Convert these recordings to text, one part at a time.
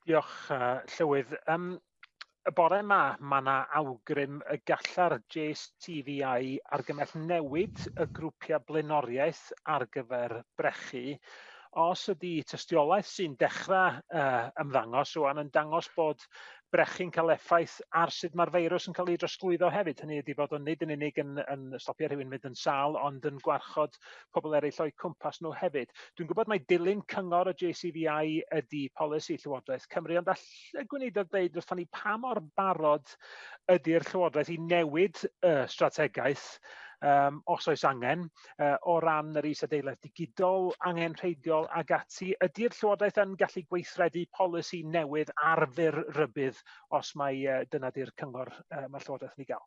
Diolch, uh, Llywydd. Um, y bore yma, mae yna awgrym y galla'r JSTVI argymell newid y grwpiau blaenoriaeth ar gyfer brechu. Os ydy tystiolaeth sy'n dechrau uh, ymddangos o'n yn dangos bod brechu'n cael effaith ar sut mae'r feirws yn cael ei drosglwyddo hefyd. Hynny ydy bod o'n nid yn unig yn, yn stopio rhywun mynd yn sal, ond yn gwarchod pobl eraill o'u cwmpas nhw hefyd. Dwi'n gwybod mai dilyn cyngor y JCVI ydy polisi Llywodraeth Cymru, ond all y gweinidog ddeud wrthon ni pa mor barod ydy'r Llywodraeth i newid y strategaeth um, os oes angen, uh, o ran yr isadeiledd digidol, angen rheidiol ag ati. Ydy'r Llywodraeth yn gallu gweithredu polisi newydd ar fyr rybydd os mae uh, dyna di'r cyngor uh, mae'r Llywodraeth yn ei gael?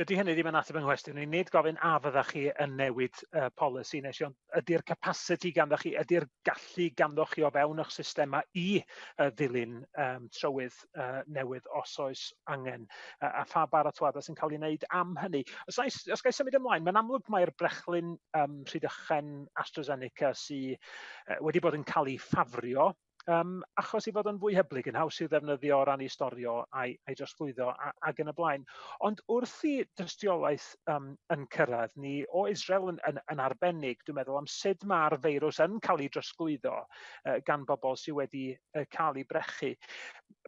Dydy hynny ddim yn ateb yng nghwestiwn i. Nid gofyn a fyddach chi yn newid uh, polisi nes i, ond ydy'r capasiti ganddoch chi, ydy'r gallu ganddoch chi o fewn eich systemau i uh, ddilyn um, trywydd uh, newydd os oes angen, uh, a pha baratoadau sy'n cael ei wneud am hynny. Os, ais, os gael symud ymlaen, mae'n amlwg mae'r brechlyn um, rhydychen AstraZeneca sydd uh, wedi bod yn cael ei ffafrio um, achos i fod yn fwy hyblyg, yn haws i ddefnyddio o ran i storio a'i, ai drosglwyddo a, ac yn y blaen. Ond wrth i dystiolaeth um, yn cyrraedd ni o Israel yn, yn, yn arbennig, dwi'n meddwl am sut mae'r feirws yn cael ei drosglwyddo uh, gan bobl sydd wedi uh, cael ei brechu.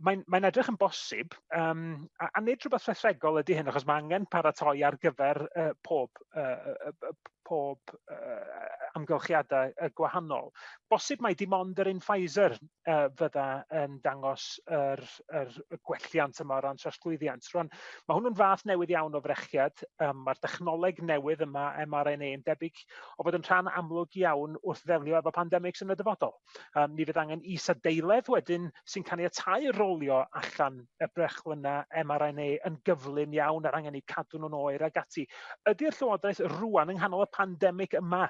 mae'n mae edrych yn bosib, um, a, a nid rhywbeth rhethregol ydy hyn, achos mae angen paratoi ar gyfer uh, pob, uh, uh, pob uh, amgylchiadau uh, gwahanol. Bosib mae dim ond yr un Pfizer uh, fydda yn dangos yr, yr gwelliant yma o ran trosglwyddiant. Rwan, mae hwnnw'n fath newydd iawn o frechiad. Um, Mae'r dechnoleg newydd yma, mRNA, yn debyg o fod yn rhan amlwg iawn wrth ddelio efo pandemics yn y dyfodol. Um, ni fydd angen is-adeiledd wedyn sy'n caniatáu rolio allan y brechlyna mRNA yn gyflym iawn a'r angen eu cadw nhw'n oer ag ati. Ydy'r Llywodraeth rwan yng nghanol y pandemig yma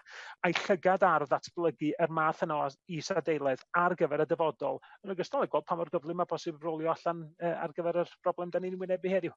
a'i llygad ar ddatblygu yr er math yna o is-adeiledd ar gyfer y dyfodol, yn ogystal â gweld pa mor gyflym mae posib rolio allan uh, ar gyfer yr broblem da ni'n wynebu heddiw.